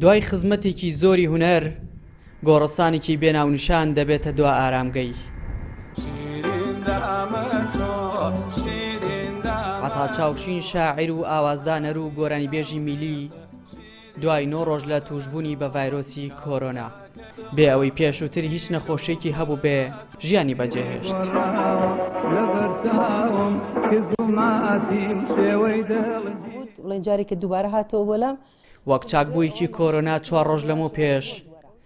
دوای خزمەتێکی زۆری هونەر گۆڕستانێکی بێ ناونیشان دەبێتە دوا ئارامگەی عەتاچاوشین شاعیر و ئاوازدانەر و گۆرانیبێژی میلی دوای نۆ ڕۆژ لە تووشبوونی بە ڤایرۆسی کۆرۆنا، بێ ئەوەی پێشووتر هیچ نەخۆشییەکی هەبووبێ، ژیانی بەجێهێشت. وەک چاکبوویەکی کۆرۆنا چوار ڕۆژ لەمەو پێش،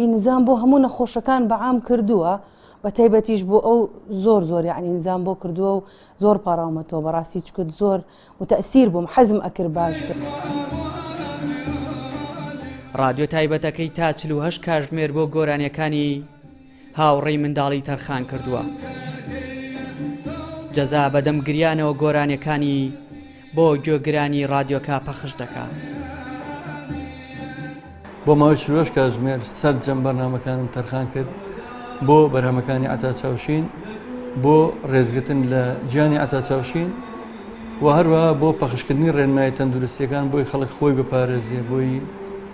ی نزام بۆ هەموو نەخۆشەکان بە عام کردووە بە تایبەتیش بۆ ئەو زۆر زۆر یعنی نزام بۆ کردووە و زۆر پاراومەتەوە بەڕاستی چکت زۆر متەسیر بووم حەزم ئەکرد باش ڕادیۆ تایبەتەکەی تا چل و هەشت کاژمێر بۆ گۆرانیەکانی هاوڕێی منداڵی تەرخان کردووە جەزا بەدەم گریانەوە گۆرانیەکانی بۆ گۆگرانی ڕادیۆکە پەخش دەکا. بۆ ماوەی چلۆش کاتژمێر سەرجەم بەرنامەکانم تەرخان کرد بۆ بەرهەمەکانی عەتا چاوشین بۆ ڕێزگرتن لە گیانی عەتا چاوشین و هەروە بۆ پەخشکردنی ڕێنمای تەندروستیەکان بۆی خەڵک خۆی بپارێزێ بۆی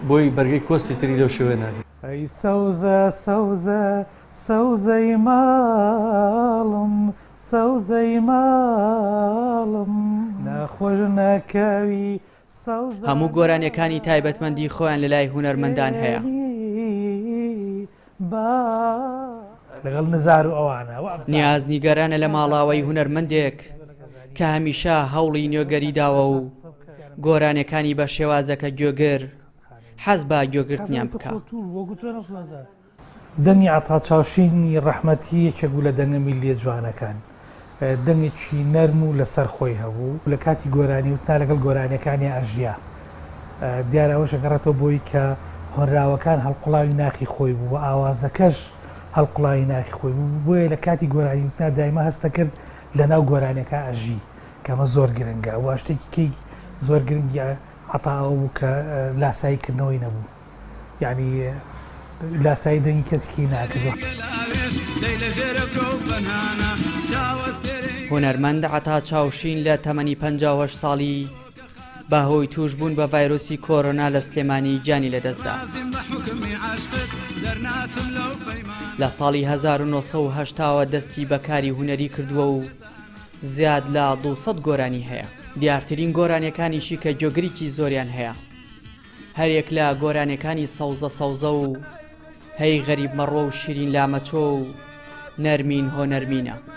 بۆی بەرگەی کۆستی تری لەو شێوەیە نادێ. ئەی سەوزە سەوزە سەوزەی ماڵم سەوزەی ماڵم. ناخۆش ناکاوی سەوزە هەموو گۆرانیەکانی تایبەتمەندی خۆیان لەلای هونەرمەندان هەیە. لەگەڵ نزار و ئەوانە وام ساز. نیاز نیگەرانە لە ماڵاوای هونەرمەندێک کە هەمیشە هەوڵی نوێگەری داوە و گۆرانیەکانی بە شێوازەکە گوێگر حەز بە گوێگرتنیان بکا. دەنگی عەتا چاوشینی ڕەحمەتی یەکێک بوو لە دەنگە میللیە جوانەکان. دەنگێکی نەرم و لەسەر خۆی هەبوو. لە کاتی گۆرانی وتنا لەگەڵ گۆرانیەکانیا ئەژیا. دیارە ئەوەش ئەگەڕێتەوە بۆی کە هۆنراوەکان هەڵقوڵاوی ناخی خۆی بوو و ئاوازەکەش هەڵقوڵاوی ناخی خۆی بوو. بۆیە لە کاتی گۆرانی وتنا دایمە هەستەکرد لە ناو گۆرانیەکا ئەژی. کە ئەمە زۆر گرنگە. وە شتێکی کەی زۆر گرنگی عەتا ئەوە بوو کە لاسایی کردنەوەی نەبوو. یعنی لاسایی دەنگی کەسیکی ناکردوە. هونەرمەند عەتا چاوشین لە تەمەنی پەنجا و هەشت ساڵی بە هۆی تووشبوون بە ڤایرۆسی کۆرۆنا لە سلێمانی گیانی لەدەستدا. لە ساڵی 1970ەوە دەستی بە کاری هونەری کردووە و زیاد لە 200 گۆرانی هەیە دیارترین گۆرانیەکانیشی کە گۆگریکی زۆریان هەیە هەریەک لە گۆرانیەکانی سەوزە سەوزە و هەی غەریب مەڕۆ و شیرین لامەچۆ و نەرمین هۆ نەرمینە.